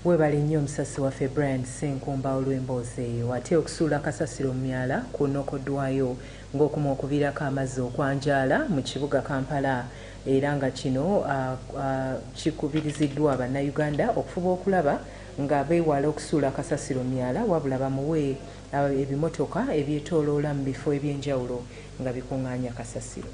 Webale nnyo omusasi waffe Brian Ssenkumba olw'emboozi eyo. Ate okusuula kasasiro mu myala kwonokoddwayo ng'okumu okuviirako amazzi okwanjaala mu kibuga Kampala era nga kino kikubiriziddwa Bannayuganda okufuba okulaba nga beewala okusuula kasasiro mu myala wabula bamuwe ebimotoka ebyetooloola mu bifo eby'enjawulo nga bikung'aanya kasasiro.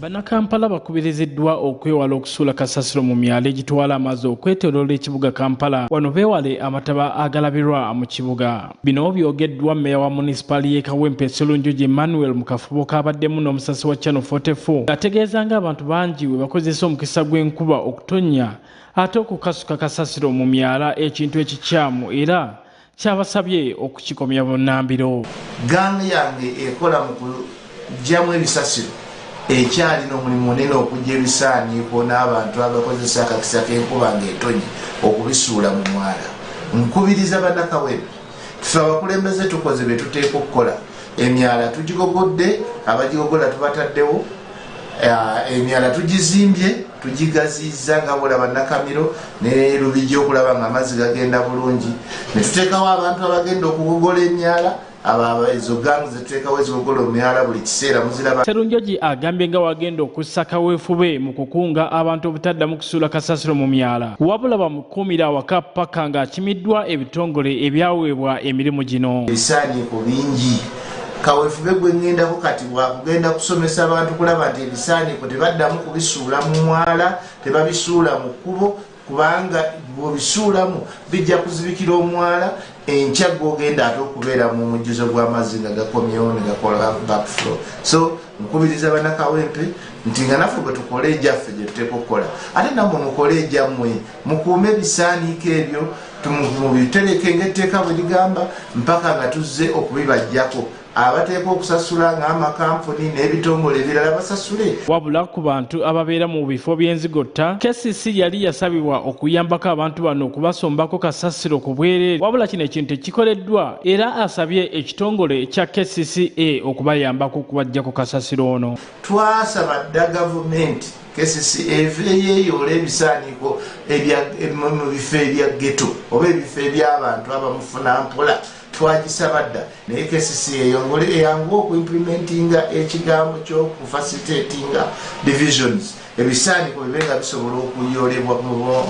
Bannakampala bakubiriziddwa okwewala okusuula kasasiro mu myalo egitwala amazzi okwetoloola ekibuga Kampala wano beewale amataba agalabirwa mu kibuga. Bino byogeddwa mmeeya wa munisipaali y'e Kawempe Sserunjogi Emmanuel mu kafubo kaabaddemu n'omusasi wa Channel 44 ng'ategeeza ng'abantu bangi bwe bakozesa omukisa gw'enkuba okutonnya ate okukasuka kasasiro mu myala ekintu ekikyamu era kyabasabye okukikomya bunnambiro. Gang yange ekola mu kuggyamu ebisasiro ekyalina omulimu munene okujja ebisaaniiko n'abantu abakozesa akakisa k'enkuba ng'etonye okubisuula mu mwala. Nkubiriza Bannakawempe tufe abakulembeze tukoze bye tuteeka okukola emyala tugigogodde abagigogola tubataddewo eh, emyala tugizimbye Tugigaziyiza nga bwolaba Nakamiro ne Lubigi okulaba nga amazzi gagenda bulungi, ne tuteekawo abantu abagenda okugogola emyala Serunjogi agambye nga wagenda okussa kaweefube mu kukunga abantu obutaddamu kusuula kasasiro mu myala wabula bamukuumira awaka ppaka ng'akimiddwa ebitongole ebyaweebwa emirimu gino. Ebisaaniiko bingi kawefube gwengendako kati bwakugenda kusomesa abantu kulaba nti ebisaaniko tebaddamu kubisuula mu mwala tebabisuula mu kkubo kubanga bwobisuulamu bijja kuzibikira omwala enkya gwogenda ate okubeera mu mujjuzo gw'amazzi nga gakomyewo negakola backflow so nkubiriza banakawempe nti nga naffe bwetukola egyaffe gyetuteeka okukola ate namwe mukole egyammwe mukuume ebisaaniiko ebyo mubiterekenga etteeka bwe ligamba mpaka nga tuzze okubibajjako abateekwa okusasula ng'amakampuni n'ebitongole ebirala basasule wabula ku bantu ababeera mu bifo by'enzigotta kcc yali yasabibwa okuyambako abantu bano okubasombako kasasiro ku bwereere wabula kino ekintu tekikoleddwa era asabye ekitongole kya kcca okubayambako okubajjako kasasiro ono twasaba dda gavumenti kcca eveeyo eyoola ebisaaniiko mu bifo ebya geto oba ebifo ebyabantu abamufuna mpola twagisaba dda naye kcca eyongole eyangu okuimplimentinga ekigambo kyokufacilitatinga divisions ebisaaniiko bibe nga bisobola okuyoolebwa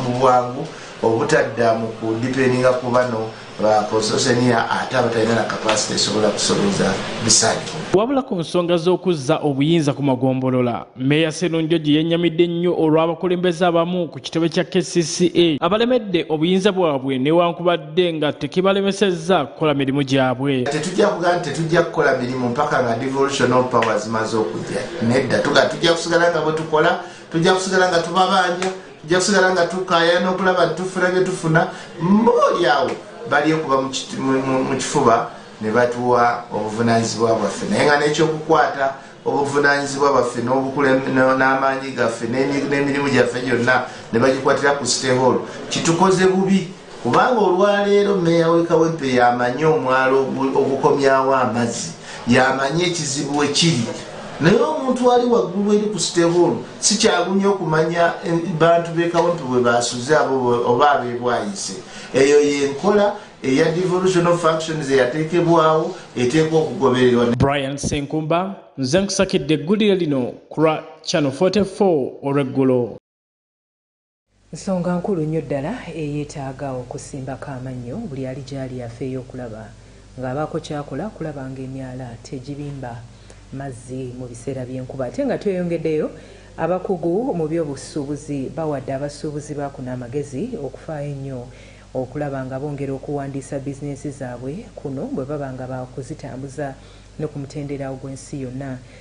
mu bwangu obutadda mu kudipendinga ku bano ba constitution year ate abatalina na capacity esobola kusobeza bisaanyizo Wabula ku nsonga z'okuzza obuyinza ku magombolola, Meeya Sserunjogi yennyamidde nnyo olw'abakulembeze abamu ku kitebe kya kcca abalemedde obuyinza bwabwe newankubadde nga tekibalemesezza kukola mirimu gyabwe. Tetujja kugaa nti tetujja kukola mirimu mpaka nga devolution of power zimaze okujja, nedda tugaa tujja kusigala nga bwetukola, tujja kusigala nga tubabanja, tujja kusigala nga tukaayana okulaba nti tufuna bye tufuna mbooli awo balyekuba mu kifuba ne batuwa obuvunaanyizibwa bwaffe naye nga n'ekyokukwata obuvunaanyizibwa bwaffe n'amaanyi gaffe n'emirimu gyaffe gyonna ne bagikwatira ku siteholo kitukoze bubi kubanga olwaleero meeya w'e kawempe yamanyi omwalo ogukomyawo amazzi yamanyi ekizibu ekiri naye omuntu ali waggulu eri ku siteholo sikyagumya okumanya eh, bantu b'e kawempe bwe basuze abo oba abebwayise eyo yenkola eya devolution of functions eyateekebwawo eteekwa okugobererwa brian senkumba nze nkusakidde eggulire lino kulwa channel 44 olw'eggulo Nsonga nkulu nnyo ddala eyeetaaga okusimbako amannyo buli ali gy'ali afeeyo okulaba ng'abaako ky'akola okulaba ng'emyala tegibimba mazzi mu biseera by'enkuba ate nga tweyongeddeyo. Abakugu mu byobusuubuzi bawadde abasuubuzi ba kuno amagezi okufaayo ennyo okulaba nga bongera okuwandiisa bizinensi zaabwe kuno bwe baba nga baakuzitambuza ne ku mutendera ogw'ensi yonna.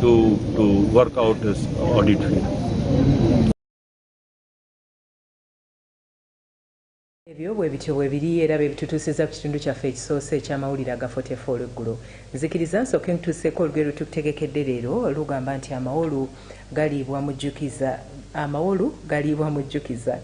to, to work out his audit fee. ebyo bwe bityo bwe biri era bye bitutuusizza ku kitundu kyaffe ekisoose eky'amawulire aga 44 olweggulo nzikiriza nsooke ntuuseeko olugero lwe tukutegekedde leero lugamba nti amawolu galiibwa mujjukiza amawolu galiibwa mujjukiza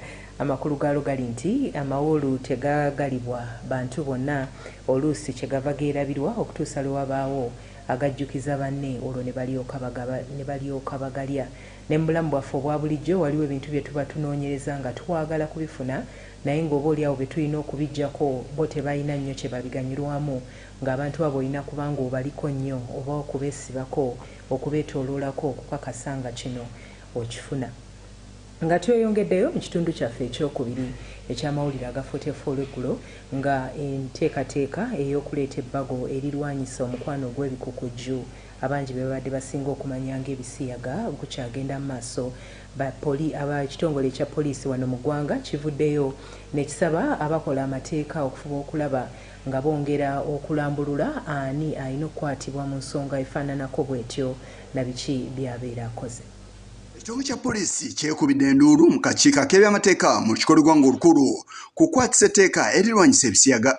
amakulu gaalo gali nti amawolu tegagalibwa bantu bonna oluusi kyegava geerabirwa okutuusa lwe wabaawo agajjukiza banne olwo ne balyoka bagaba ne balyoka bagalya. Ne mu bulamu bwaffe obwa bulijjo waliwo ebintu bye tuba tunoonyereza nga twagala kubifuna naye ng'oboolyawo be tulina okubiggyako bo tebalina nnyo kye babiganyulwamu. Ng'abantu abo olina kuba ng'obaliko nnyo oba okubeesibako, okubeetooloolako okukakasa nga kino okifuna. Nga tweyongeddeyo mu kitundu kyaffe eky'okubiri eky'amawulire aga 40F olw'eggulo, nga enteekateeka ey'okuleeta ebbago erirwanyisa omukwano ogw'ebikukujju abangi be babadde basinga okumanya ng'ebisiyaga gukyagenda mu maaso, ba poli aba ekitongole ekya poliisi wano mu ggwanga kivuddeyo nekisaba abakola amateeka okufuba okulaba nga bongera okulambulula ani alina okukwatibwa mu nsonga efaananako bwetyo na biki by'abeera akoze. Ekitongole kya poliisi kyekubidde enduulu mu kakiiko ak'ebyamateeka mu lukiko lw'eggwanga olukulu ku kukwatisa etteeka erirwanyisa ebisiyaga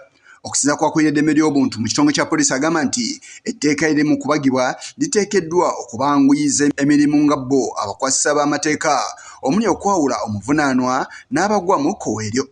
okusiza kwakulira eddembe ly'obuntu mu kitongole kya poliisi agamba nti etteeka eri mu kubagibwa liteekeddwa okubanguyiza emirimu nga bo abakwasisa b'amateeka omuli okwawula omuvunaanwa n'abagwa mu kkowe eryo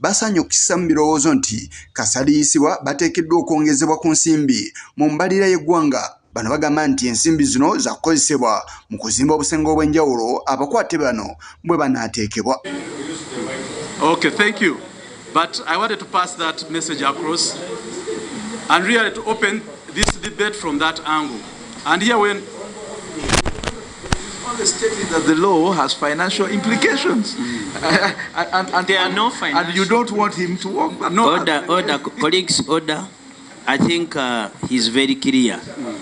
basanye okukisa mu birowoozo nti kasaliyisibwa bateekeddwa okwongezebwa ku nsimbi mu mbalira y'eggwanga bano bagamba nti ensimbi zino zakukozesebwa mu kuzimba obusenge obw'enjawulo abakwate bano bwe banaateekebwa okay, thank you. But I wanted to pass that message across and really to open this debate from that angle. And here when only stating that the law has financial implications. Mm. and, and, and, there are no financial. And you don't want him to work. But no, order, order, colleagues, order. I think uh, he's very clear.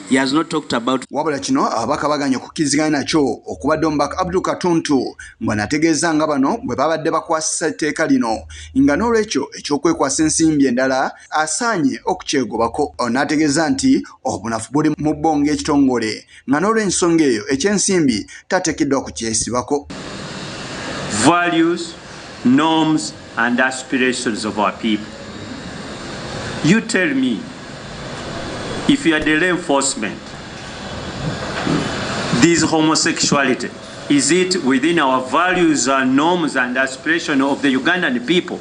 He has not talked about wabula kino ababaka baganye okukiriziganya nakyo okubadde omubaka abdul katuntu mbwanategeeza nga bano bwe babadde bakwasisa etteeka lino nga n'olwekyo ekyokwekwasa ensimbi endala asaanye okukyegobako onategeeza nti obunafu buli mu bbonga ekitongole nga n'olw'ensonga eyo eky'ensimbi tateekeddwa ku kyesibako. Values, norms and aspirations of our people. You tell me if you are the law enforcement, this homosexuality, is it within our values and norms and aspirations of the Ugandan people?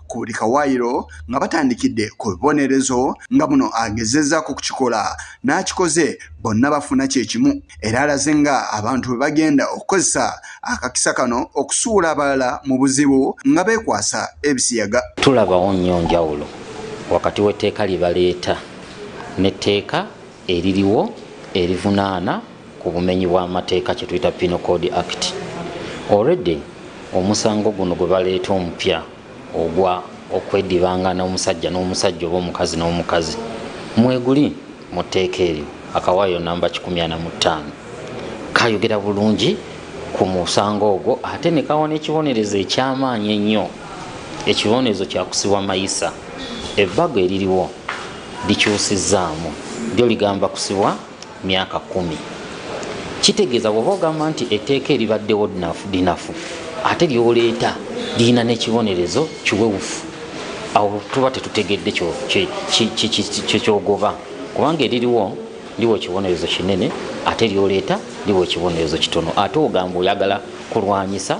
ku buli kawaayiro nga batandikidde ku bibonerezo nga muno agezezzaako okukikola n'akikoze bonna bafuna kye kimu era alaze nga abantu bwe bagenda okukozesa akakisa kano okusuula abalala mu buzibu nga beekwasa ebisiyaga tulabawo nnyo njawulo wakati w'etteeka lye baleeta n'etteeka eririwo erivunaana ku bumenyi bw'amateeka kye tuyita Penal Code Act. Already omusango guno gwe baleeta omupya ogwa okwedibangana omusajja n'omusajja oba omukazi n'omukazi mweguli mu tteeka eryo akawaayo namba 15 kayogera bulungi ku musango ogwo ate ne kawa n'ekibonerezo eky'amaanyi ennyo ekibonerezo kyakusibwa mayisa ebbago eririwo likyusizzaamu lyo ligamba kusibwa myaka kumi kitegeeza bwoba ogamba nti etteeka eribaddewo linafu ate lyoleeta lirina n'ekibonerezo kiwewufu awo tuba tetutegedde kyekyogoba kubanga eririwo liwo ekibonerezo kinene ate lyoleeta liwo ekibonerezo kitono ate ogamba oyagala kulwanyisa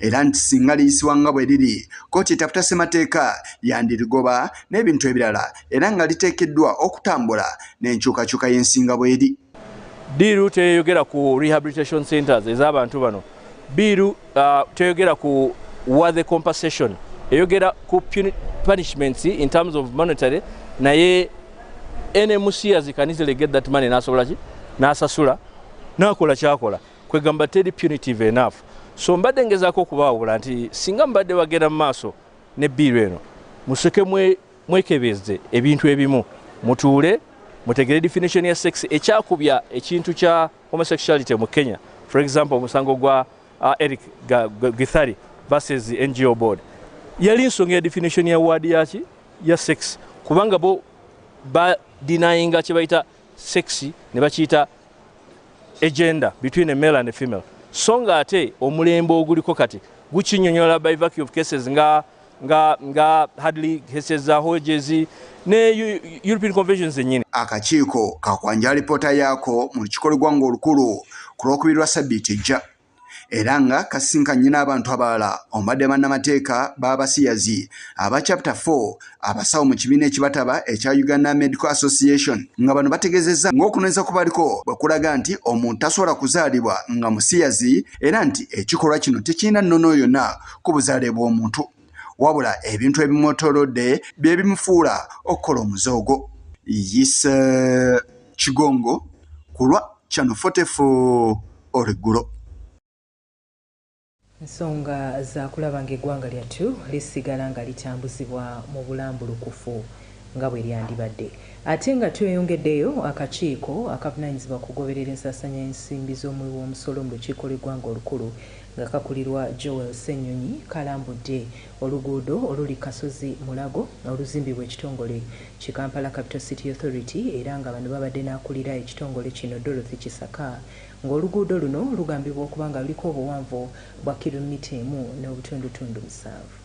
era nti singa liyisibwa nga bwe liri kkooti etaputa ssemateeka yandirigoba n'ebintu ebirala era nga liteekeddwa okutambula n'enkyukakyuka y'ensinga bweri biiru teyogera ku rehabilitation centers ez'abantu bano biiru uh, teyogera ku wa the compensation eyogera ku punishments in terms of monetary naye nmc azikanizile get that money nasobola ki nasasula nakola kyakola kwegamba teri punitive enough so mbadde ngezaako okubaawula nti singa mubadde bagenda mu maaso ne biiru eno musoke mwekebezze ebintu ebimu mutuule mutegere definition ya sex ekyakubya ekintu kya homosexuality mu kenya for example omusango gwa uh, eric githari versus ngo board yali nsonga ya definition ya ward yaki ya sex kubanga bo ba denyinga kyebayita sexy ne bakiyita agenda between a male and a female so nga ate omulembe oguliko kati gukinyonyola by vacuum of cases nga nga nga hadley cases za hojezi ne european conventions enyini akakiiko kakwanja alipoota yaako mu lukikolwa gwanga olukulu ku lwokubiri lwa sabbiiti ejja era nga kasinkanye n'abantu abalala omubadde bannamateeka b'abasiyazi aba chapter 4 abasawo mu kibiina ekibataba ekya uganda medical association nga bano bategezezza ng'okunonyeza ku baliko bwe kulaga nti omuntu tasobola kuzaalibwa nga musiyazi era nti ekikolwa kino tekirina nnono yonna ku buzaale bw'omuntu wabula ebintu ebimwotolodde bye bimufuula okukola omuze ogwo yise kigongo ku lwa chano 44 oliggulo nsonga zakulaba ng'eggwanga lyattu lisigala nga litambuzibwa mu bulambulukufu nga bwe lyandibadde ate nga tweyongeddeyo akakiiko akavunanyizibwa ku kugoberera ensasanya y'ensimbi z'omuwi w'omusolo mu lukiiko lw'eggwanga olukulu nga kakulirwa Joel Ssenyonyi kalambudde oluguudo oluli Kasozi Mulago oluzimbibwa ekitongole ki Kampala Capital City Authority era nga bano babadde n'akulira ekitongole kino Dorothy Kisaka ng'oluguudo luno lugambibwa okuba nga luliko obuwanvu bwa kilometer emu n'obutundutundu musanvu.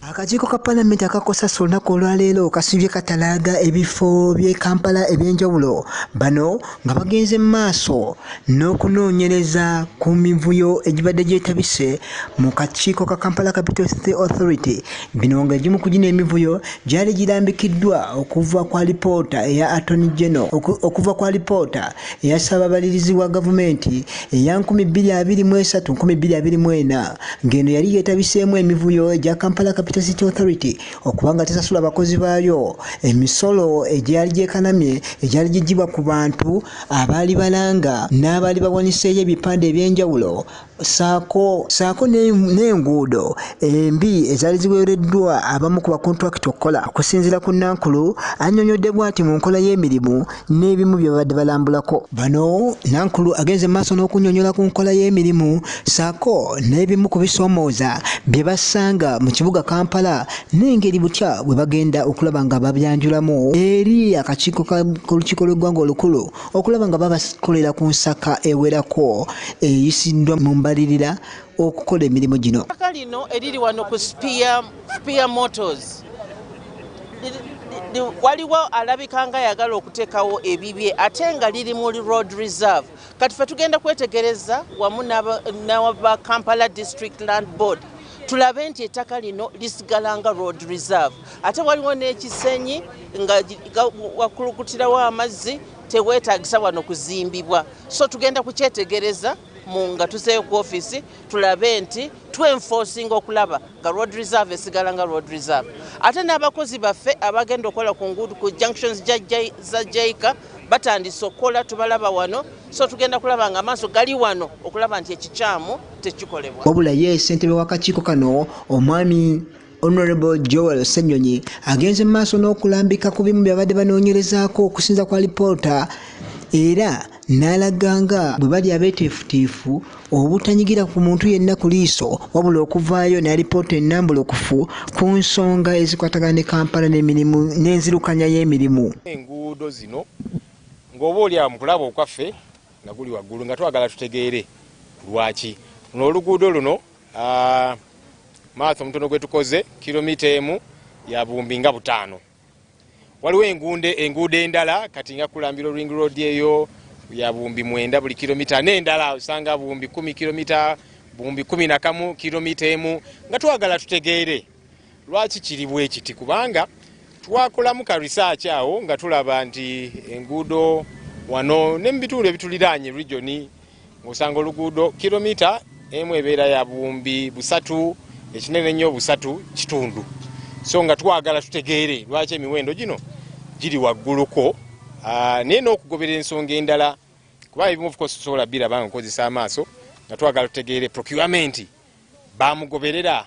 Akakiiko ka palamenti aka COSASO olunaku olwaleero kasibye katalaaga ebifo by'e Kampala eby'enjawulo bano nga bagenze mu maaso n'okunoonyereza ku mivuyo egibadde gyetabise mu kakiiko ka Kampala Capital City Authority bino ng'egimu ku gino emivuyo gyali girambikiddwa okuva kwa lipoota eya Attorney General okuva kwa lipoota eya ssaababalirizi wa gavumenti eya 2023-2024 ng'eno yali yeetabiseemu emivuyo egya kampala capital city authority okuba nga tesasula abakozi baayo emisolo egyali gyekanamye egyali gigibwa ku bantu abaali balanga n'abaali bawaniseeyo ebipande eby'enjawulo saako saako n'enguudo embi ezaali ziweereddwa abamu ku bakontulakiti okukola okusinziira ku nankulu annyonyodde bwati mu nkola y'emirimu n'ebimu bye babadde balambulako bano nankulu agenze maaso n'okunnyonnyola ku nkola y'emirimu saako n'ebimu ku bisoomooza bye basanga mu kibuga kampala n'engeri butya bwe bagenda okulaba nga babyanjulamu eri akakiiko k'olukiiko lw'eggwanga olukulu okulaba nga babakolera ku nsaka ewerako eyisiddwa mu mbalirira okukola emirimu gino aka lino eriri wano ku spear motors waliwo alabika nga yagala okuteekawo ebibye ate nga liri mu road reserve kati fe tugenda kwetegereza wamu naba kampala district land board tulabe nti ettaka lino lisigala nga road reserve ate waliwo n'ekisenyi nga wakulukutirawo amazzi teweetagisa wano kuzimbibwa so tugenda kukyetegereza mu nga tuzeeyo ku ofiisi tulabe nti twenfosinga okulaba nga road reserve esigala nga road reserve ate n'abakozi baffe abagenda okukola ku nguudu ku junctions za jaika batandise okukola tubalaba wano so tugenda kulaba nga amaaso gali wano okulaba nti ekikyamu tekikolebwa wabula ye ssentebe w'akakiiko kano omwami Honorable Joel Ssenyonyi agenze mu maaso n'okulambika ku bimu byabadde banoonyerezaako okusinza kwa lipoota era n'alaga nga bwe bali abeeteefutiifu obutanyigira ku muntu yenna ku liiso wabula okuvaayo ne alipoota ennambulukufu ku nsonga ezikwatagana ne Kampala n'emirimu n'enzirukanya y'emirimu. Enguudo zino ng'oba oli awo mu kulaba okwaffe nga guli waggulu nga twagala tutegeere lwaki luno oluguudo luno Ah, maatha omutono gwe tukoze kilomita emu ya buwumbi nga butaano waliwo enguudo endala kati nga kulambira ring road eyo ya buwumbi mwenda buli kilomita n'endala osanga buwumbi kumi kilomita buwumbi kumi nakamu kilomita emu nga twagala tutegeere Lwaki kiri bwe kiti? Kubanga twakolamu ka risaaki awo nga tulaba nti enguudo wano ne mu bitundu ebituliraanye regioni ng'osanga oluguudo kilomita emu ebeera ya buwumbi busatu ekinene nnyo busatu kitundu so nga twagala tutegeere lwaki emiwendo gino giri wagguluko ah, naye n'okugobera ensonga endala kuba ebimu ofcourse tusobola biraba nga okozesa amaaso nga twagala tutegeere procurement bamugoberera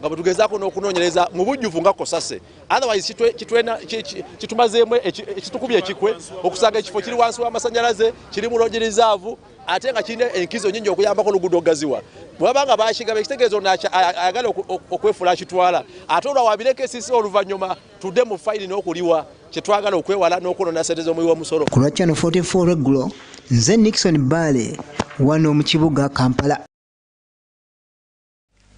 nga bwetugezaako n'okunoonyereza mu bujjuvu nga kosase otherwise kitumazeemu ekitukubya ekikwe okusanga ekifo kiri wansi w'amasanyalaze kiri mu logi rizaavu ate nga kirina enkizo nyingi okuyambako oluguudo okugaziwa bwebabanga bakigaba ekitegeezo ayagala okwefuula akitwala ate olwa wabireko esisi oluvannyuma tudde mu fayiri n'okuliwa kyetwagala okwewala n'okwonona sente z'omuwi w'omusolo ku lwa channel 44 regulo nze nixon baale wano mu kibuga kampala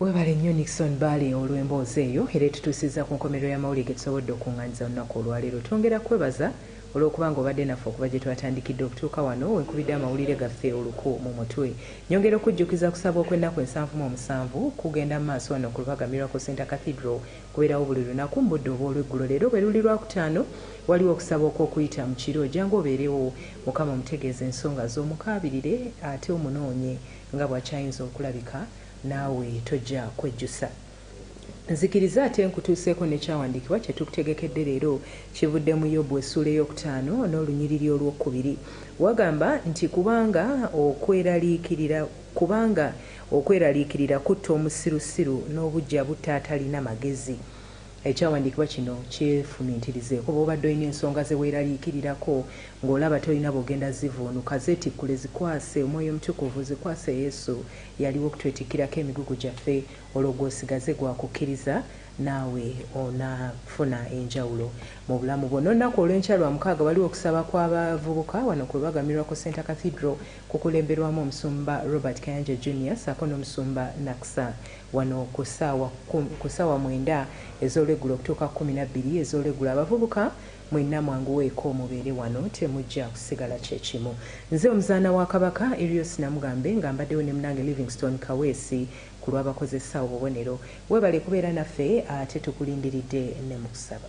Webale nnyo Nixon Baale olw'emboozi eyo era etutuusizza ku nkomerero y'amawulire ge tusobodde okukungaanyiza olunaku olwaleero. Twongera kukwebaza olw'okuba nga obadde naffe okuva gye twatandikidde okutuuka wano we nkubidde amawulire gaffe oluku mu mutwe. Nnyongera okukujjukiza kusaba okw'ennaku ensanvu mu omusanvu kugenda mu maaso wano ku Lubaga Miracle Centre Cathedral. Kubeerawo buli lunaku mu budde obw'olweggulo. Leero bwe luli Lwakutaano waliwo okusaba okw'okuyita mu kiro. Jangu obeerewo Mukama omutegeeze ensonga zo, omukaabirire ate omunoonye. Nga bwakyayinza okulabika, naawe tojja kwejjusa. Nzikiriza ate nkutuuseeko n'ekyawandiikibwa kye tukutegekedde leero. Kivudde mu Yobu essuula ey'okutaano n'olunyiriri olw'okubiri. Wagamba nti, Kubanga okweraliikirira, kubanga okweraliikirira kutta omusirusiru, n'obuggya butta atalina magezi. Ekyawandiikibwa kino kyefumiitirizeeko. Bw'obadde olina ensonga ze weeraliikirirako, ng'olaba tolina bw'ogenda zivvuunuka, zeetikkule, zikwase Omwoyo Omutukuvu, zikwase Yesu. Yaliwo okutwetikkirako emigugu gyaffe. Olwo gwe osigaze gwa kukkiriza, naawe onafuna enjawulo mu bulamu bwo. N'olunaku olw'enkya, Lwamukaaga, waliwo okusaba kw'abavubuka wano ku lwagamirwa ku Centre Cathedral, kukulemberwamu Omusumba Robert Kayanja Junior ssaako n'Omusumba Naksa. Wano ku ssaawa kkumi, ku ssaawa mwenda ez'olweggulo okutuuka kkumi na bbiri ez'olweggulo, abavubuka mwenna mwanguweeko mubeere wano, temujja kusigala kye kimu. Nze Omuzaana wa Kabaka, Erios Namugambe, nga mbaddewo ne munange Livingstone Kaweesi ku lw'abakozesa obubonero. Weebale kubeera naffe ate tukulindiridde ne mu kusaba.